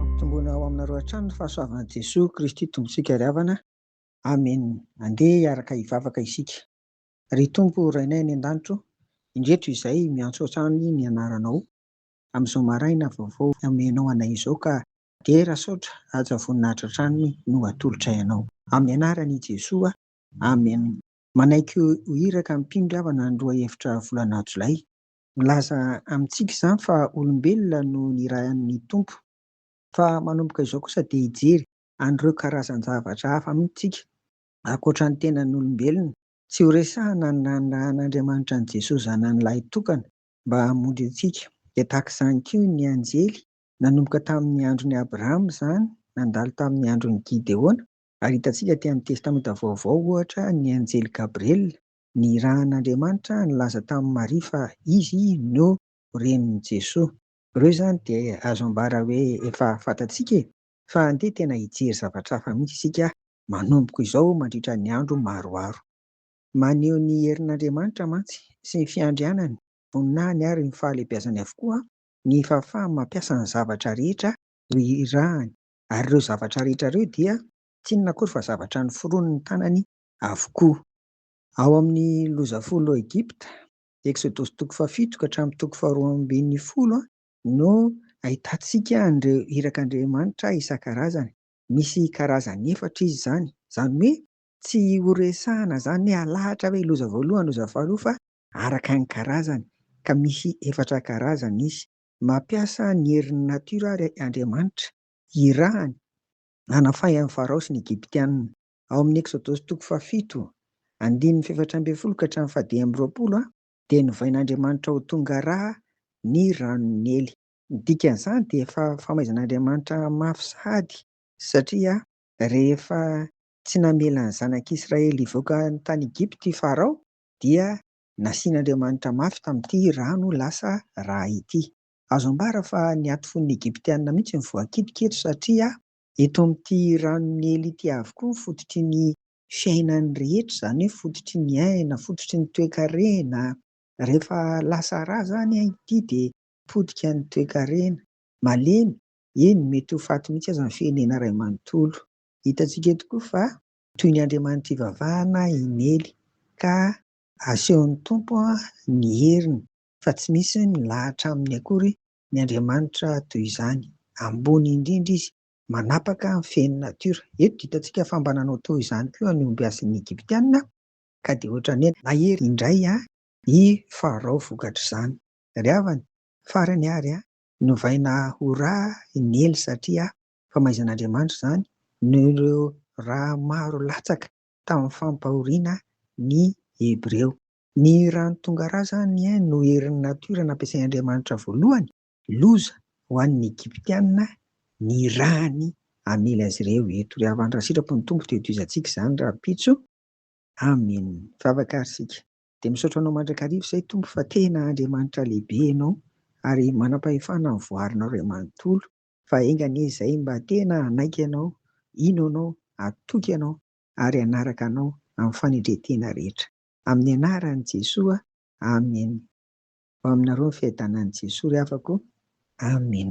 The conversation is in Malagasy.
Ampitomboina ao aminareo hatrany ny fahasoavan'i Jesoa Kristy Tompontsika ry havana. Amena. Andeha hiaraka hivavaka isika. Ry Tompo Rainay any An-danitro, indreto izay miantso hatrany ny Anaranao amin'izao maraina vaovao omenao anay izao ka dera asaotra haja voninahitra hatrany no atolotray Anao. Amin'ny Anaran'i Jesoa. Amena. Manaiky ho iraka mpino avana ny roa efitra volana jolay. Milaza amintsika izany fa olombelona no nirahin'ny Tompo, fa manomboka izao kosa dia hijery an'ireo karazan-javatra hafa mihitsy isika, ankoatra ny tenan'olombelona. Tsy horesahana ny nanirahan'Andriamanitra an'i Jesoa Zanany lahitokana mba hamonjy antsika. Dia tahaka izany koa ny anjely, nanomboka tamin'ny andron'i Abrahama izany, nandalo tamin'ny andron'i Gideona, Ary hitantsika aty amin'ny Testamenta Vaovao, ohatra, ny anjely Gabriela nirahan'Andriamanitra nilaza tamin'i Maria fa izy no renin'i Jesoa. Ireo izany dia azo ambara hoe efa fantatsika e! Fa andeha tena hijery zavatra hafa mihitsy isika manomboka izao mandritra ny andro maroaro. Maneho ny herin'Andriamanitra mantsy sy ny fiandrianany, voninahiny ary ny fahalehibiazany avokoa ny fahafahany mampiasa ny zavatra rehetra ho irahany. ary ireo zavatra rehetra ireo dia tsy inona akory fa zavatra noforonin'ny tanany avokoa. Ao amin'ny loza folo ao Egypta, Eksodosy toko fahafito ka hatramin'ny toko faharoa ambin'ny folo, no ahitantsika an'ireo irak'Andriamanitra isan-karazany. Misy karazany efatra izy izany. Izany hoe tsy horesahana izany hoe halahatra ve loza voalohany, loza faharoa fa araka ny karazany, ka misy efatra karazany izy. Mampiasa ny herin'ny natiora àry Andriamanitra, hirahany, hanafahany ny Farao sy ny Egyptianina. Ao amin'ny Eksodosy toko fahafito, andininy fahefatra ambin'ny folo ka hatramin'ny fahadimy amby roapolo, dia novain'Andriamanitra ho tonga rà ny ranon'i Nily. Ny dikan'izany dia efa famaizan'Andriamanitra mafy sahady, satria rehefa tsy namela ny zanak'Israely hivoaka tany Egypta i Farao, dia Nasian'Andriamanitra mafy tamin'ity rano ho lasa ra ity. Azo ambara fa niato fo ny Egyptiana mihitsy ny voakitika eto satria eto amin'ity ranon'i Nily ity avokoa ny fototry ny fiainany rehetra, izany hoe fototry ny aina, fototry ny toekarena. Rehefa lasa ra izany ity dia potika ny toekarena. Malemy, eny mety ho faty mihitsy aza ny firenena iray manontolo. Hitantsika eto koa fa Toy ny Andriamanitra ivavahana i Nely ka asehon'ny Tompo ny heriny fa tsy misy milahatra aminy akory ny Andriamanitra toy izany. Ambony indrindra izy, manapaka ny fen'ny natiora. Eto dia hitantsika fa mba nanao toy izany koa ny ombiasin'ny Egyptiana ka dia ohatran'ny hoe nahery indray i Farao vokatr'izany. Ry havana, farany ary novaina ho ra i Nely satria famaizan'Andriamanitra izany noho ireo ra maro latsaka tamin'ny fampahoriana ny Hebreo. Ny rano tonga ra izany no herin'ny natiora nampiasain'Andriamanitra voalohany, loza ho an'ny Egyptiana ny rany hamely azy ireo eto. Ry havana, raha sitrapo ny Tompo dia tohizantsika izany rahampitso. Amen. Mivavaka ary isika. Dia misaotra Anao mandrakariva izay Tompo fa tena Andriamanitra lehibe Ianao ary manam-pahefana ny voarinao iray manontolo. Fa enga anie izay mba tena hanaiky Anao, hino Anao, hatoky Anao ary hanaraka Anao amin'ny fanendren-tena rehetra. Amin'ny Anaran'i Jesoa, Amen. Ho aminareo ny fiadanan'i Jesoa ry havako. Amen.